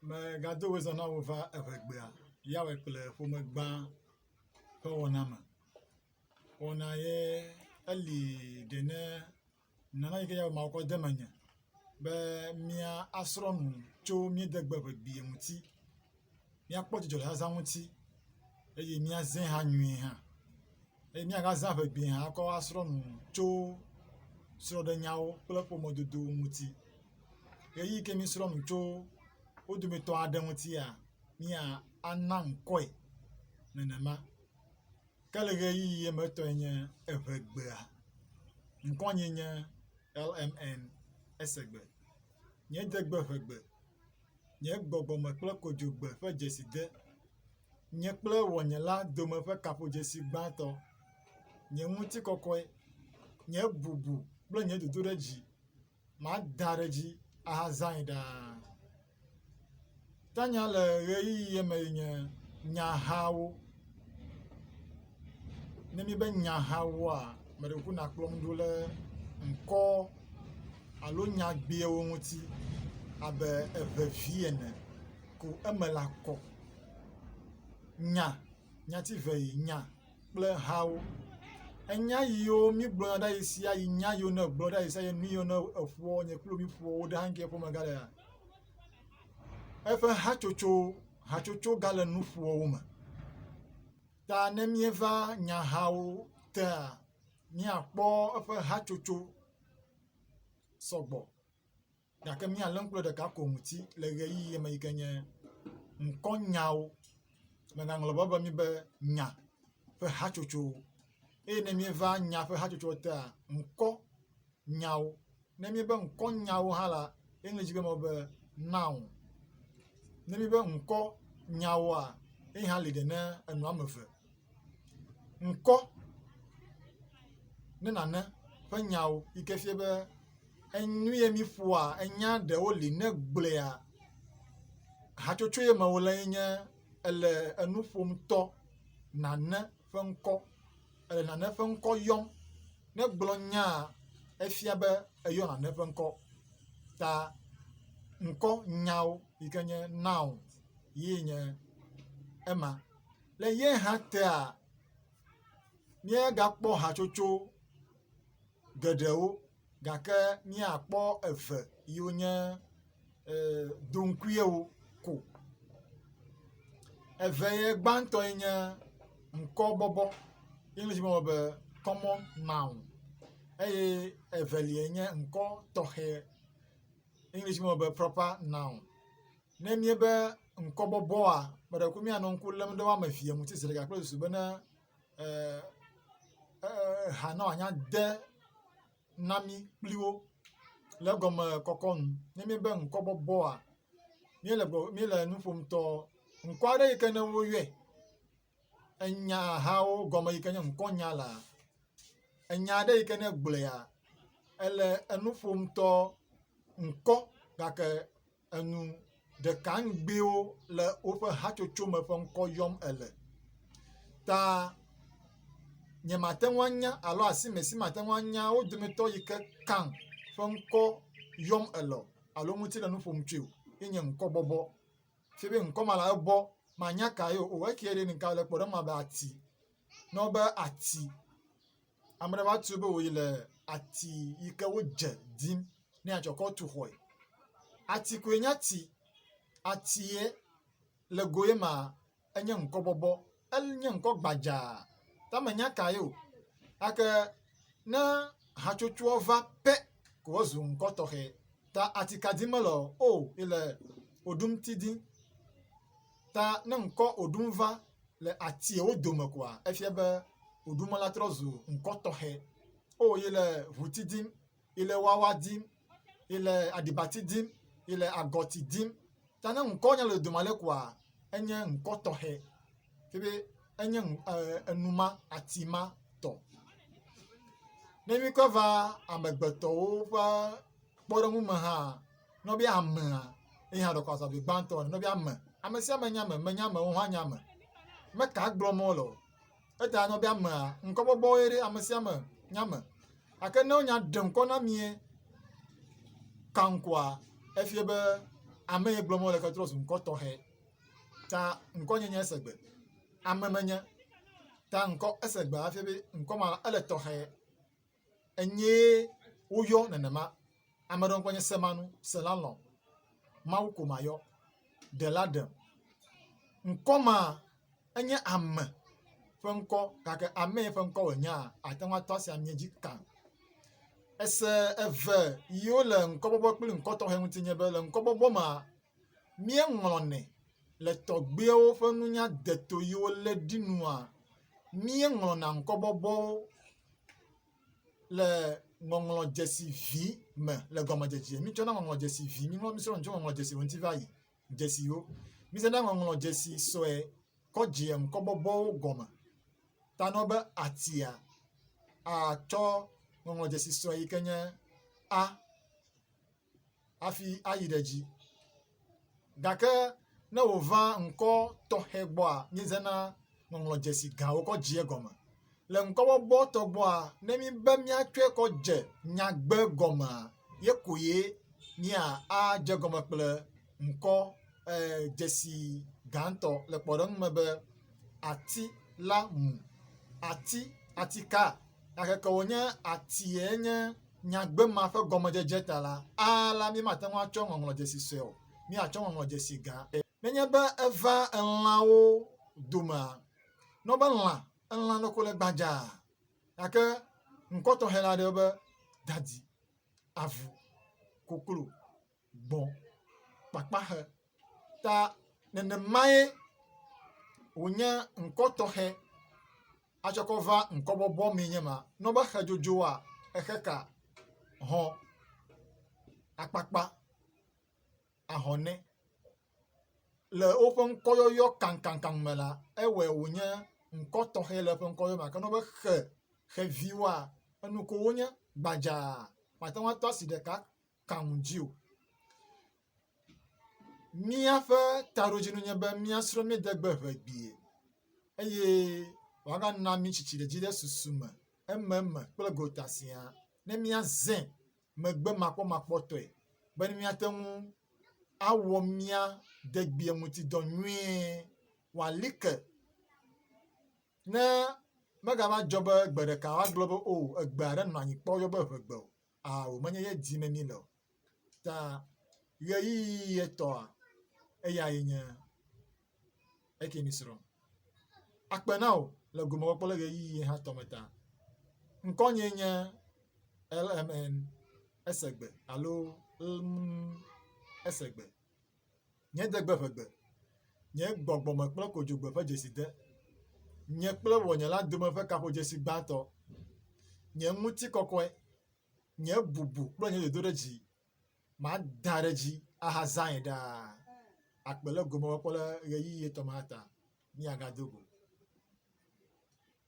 Mègado ŋudzɔ na wo va eŋegbea, Yawe kple ƒome gbã ƒe wɔna me. Wɔna ye eli ɖe ne nane yi ke Yawe Mawu kɔ de menye be míasrɔ̃ nu tso míedegbe ŋegbee ŋuti míakpɔ dzidzɔ le zazã ŋuti eye míazẽ ha nyuie hã eye míagazẽ ƒe geɖe hã akɔ asrɔ̃ nu tso srɔ̃ɖenyawo kple ƒomedodo ŋuti. Ʋeyiʋi ke míesrɔ̃ nu tso wo dometɔ aɖe ŋutia, míana ŋkɔe nenema. Ke le ʋeyiʋi ye me etɔe nye eŋegbea. Ŋkɔnyee nye LMNɔ esegbe. Nye degbe ŋegbe. nye gbɔgbɔ me kple kodzogbe ƒe dzeside, nye kple wɔnyela dome ƒe kaƒodzesi gbãtɔ, nye ŋutikɔkɔe, nye bubu kple nye dodoɖedzi, mada ɖe edzi ahazãe ɖaa. Tanya le ʋeyiʋi me yi nye nyahawo. ne míebe nyahawoa, ame aɖewo ƒuna kplɔm ɖo ɖe ŋkɔ alo nyagbeawo ŋuti abe eve vi ene ko eme la kɔ. Nya, nyati ve yi nya kple hawo. Enya yiwo mígblɔna ɖa ɣe sia ɣi, nya yiwo ne egblɔ ɖa ɣe sia ɣi, nu yiwo ne eƒoɔ nye kple mi ƒoɔ wo ɖe hafi hafi ƒomegã ɖea, eƒe hatsotso. Hatsotso gale nuƒoawo me ta ne míeva nyahawo tea, míakpɔ eƒe hatsotso sɔgbɔ gake míalé ŋku ɖe ɖeka ko ŋuti le ʋeyiʋi me yi ke nye ŋkɔnyawo. Mègaŋlɔ be wobiɔ mí be nya ƒe hatsotso o eye ne míeva nya ƒe hatsotso tea ŋkɔ nyawo. Ne míebe ŋkɔnyawo hã la, Englishigbe me woyɔnɛ be noun. Ne míebe ŋkɔnyawoa, eyi hã li ɖe ne enu woame eve. Ŋkɔ ne nane ƒe nyawo yi ke fia be enu ye míeƒoa, enya ɖewo li ne egblɔea, hatsotso ye me wole ye nye ele enu ƒom tɔ nane. ƒe ŋkɔ, èle nane ƒe ŋkɔ yɔm. Ne ègblɔ nyaa, efia be èyɔ nane ƒe ŋkɔ. Ta ŋkɔ nyawo yi ke nye noun ye nye ema. Le ye hã tea, míegakpɔ hatsotso geɖewo. gake míakpɔ eve yiwo nye e doŋkuiwo ko. Eve ye gbãtɔ ye nye ŋkɔbɔbɔ English me woyɔnɛ be common noun eye evelia nye ŋkɔ tɔxɛ English me woyɔnɛ be proper noun. Ne míebe ŋkɔbɔbɔa ƒe ɖe ku míanɔ ŋku lem ɖe woame evea ŋuti zi ɖeka kple susu bene eha ne wòanya de na mí kpli wo le egɔme kɔkɔ nu. Ne míebe ŋkɔ bɔbɔa, míele gbɔ, míele nu ƒom tɔ ŋkɔ aɖe yi ke ne woyɔɛ, enya hawo gɔme yi ke nye ŋkɔnya lea, enya ɖe yi ke ne egblɔea, ele enu ƒom tɔ ŋkɔ gake. enu ɖeka ŋugbewo le woƒe hatsotso me ƒe ŋkɔ yɔm ele ta nyemate ŋu anya alo asi ame si mate ŋu anya wo dometɔ yi ke kam ƒe ŋkɔ yɔm ele o alo ŋuti le nu ƒom tsoe o ye nye ŋkɔbɔbɔ. Fie be ŋkɔ ma le ebɔ manya kae o o ekie ɖe nika le kpɔɖeŋu abe ati ne wobe ati Ame aɖe va tui be wòyi le ati yi ke wodze dim ne yeatsɔ kɔ tu xɔe. Ati koe nye ati. Atie le go ye maa, enye ŋkɔ bɔbɔ. Enye ŋkɔ gbadzaa. Ta menya kae o gake ne hatsotsoa va pe ko wozu ŋkɔ tɔxɛ. Ta ati ka dim mele o? Oo, ele oɖumti dim. Ta ne ŋkɔ wòɖum va le atiewo dome koa, efia be wòɖumɔ la trɔ zu ŋkɔ tɔxɛ. O, yi le ʋuti dim, yi le wawa dim, yi le aɖibati dim, yi le agɔti dim. Ta ne ŋkɔ nya le dodome ale koa, enye ŋkɔ tɔxɛ. Ebe enye enu ma, ati ma tɔ. Ne míkɔe va amegbetɔwo ƒe kpɔɖeŋu me hã, ne wobia amea, ye hã ɖeko azɔli gbãtɔ ene. Ne wobia ame, ame sia ame nya ame, menya amewo hã nya ame. Meka gblɔm wole o. Eya ta ne wobia amea, ŋkɔbɔbɔwoe ɖe, ame sia ame nya ame. Gake ne wonya ɖe ŋkɔ na amee ka ŋkɔa, efie be ame yi gblɔm wole ke trɔ zu ŋkɔ tɔxɛ. Ta ŋkɔnyenye se gbe. Ame menye. Ta ŋkɔ ese gbe efie be ŋkɔ ma ele tɔxɛ. enyee woyɔ nenema. Ame aɖewo ŋkɔe nye Semanu, Selalɔ, Mawu ko mayɔ, Ɖela ɖem. Ŋkɔ ma enye ame ƒe ŋkɔ gake ame ye ƒe ŋkɔ wònye àte ŋu atɔ asi amea dzi kã. Ese eve yiwo le ŋkɔbɔbɔ kple ŋkɔ tɔxɛ ŋuti nye be le ŋkɔbɔbɔ mea, míeŋlɔnɛ. Le tɔgbuiwo ƒe nunya deto yi wolé ɖi nua, míeŋlɔna ŋkɔbɔbɔwo le ŋɔŋlɔ dzesi vi me le gɔmedzedze. Míetsɔna ŋɔŋlɔ dzesi vi míeŋlɔ nu srɔ̃ tso ŋɔŋlɔ dzesi ŋuti va yi dzesiwo. Míezãna ŋɔŋlɔ dzesi sue kɔ dzea ŋkɔbɔbɔwo gɔme. Ta na wo be atia atsɔ ŋɔŋlɔ dzesi sue yi ke nye a. hafi ayi ɖe edzi. Gake ne wòva ŋkɔ tɔxɛ gbɔa, míezãna ŋɔŋlɔ dzesi gãwo kɔ dzea egɔme. Le ŋkɔbɔbɔ tɔ gbɔa, ne míebe míatsɔe kɔ dze nyagbe gɔmea, ye koe míadze egɔme kple. ŋkɔ ee dzesi gãtɔ le kpɔɖeŋu me be ati la mu. Ati, ati ka? Gake ke wònye atie nye nyagbe ma ƒe gɔmedzedze ta la, a la míemate ŋu atsɔ ŋɔŋlɔ dzesi sue o. Míatsɔ ŋɔŋlɔ dzesi gã. Nenye be eva elãwo domea, nɔ be lã, elã nɔ ko le gbadzaa. Gake ŋkɔ tɔxɛ la ɖe be dadi, avu, koklo. gbɔ kpakpaxe ta nenemae wònye ŋkɔ tɔxɛ atsɔ kɔ va ŋkɔ bɔbɔ mee nye ma. Ne wobe xe dzodzoa, exe ka? Hɔ̃, akpakpa, ahɔnɛ. Le woƒe ŋkɔyɔyɔ kaŋkaŋkaŋ me la, ewɔe wònye ŋkɔ tɔxɛ le eƒe ŋkɔyɔyɔ me gake ne wobe xe xeviwoa, enu ko wonye gbadzaa. Màte ŋu ato asi ɖeka ka ŋdi o. Míaƒe taɖodzinu nye be míasrɔ̃ mí de gbe ʋegbee eye woava na mí tsitsi ɖe dzi ɖe susu me, ememe kple gota siaa ne míazẽ megbe makpɔmakpɔtɔe be míate ŋu awɔ mía degbea ŋuti dɔ nyuie wòali ke ne megava dzɔ be gbe ɖeka woagblɔ be o egbe aɖe nɔ anyi kpɔ woyɔ be ʋegbe o. ao menye ye dim ne míle o. Ta ɣeyiɣi etɔ̃a eyae nye eke misrɔ̃. Akpe na wò le gomekpɔkpɔ le ɣeyiɣi hã tɔ me ta. Ŋkɔnyee nye LMN esegbe alo LMN esegbe. Nye degbe ƒe gbe, nye gbɔgbɔ me kple kodzogbe ƒe dzeside, nye kple wò nye la dome ƒe kaƒodzesi gbãtɔ, nye ŋutikɔkɔe, nye bubu kple nye dodoɖedzi, mada ɖe dzi ahazãe ɖaa, akpe le gomewɔkpɔ le ɣeyiɣi etɔ̃ ma ta, míagado go.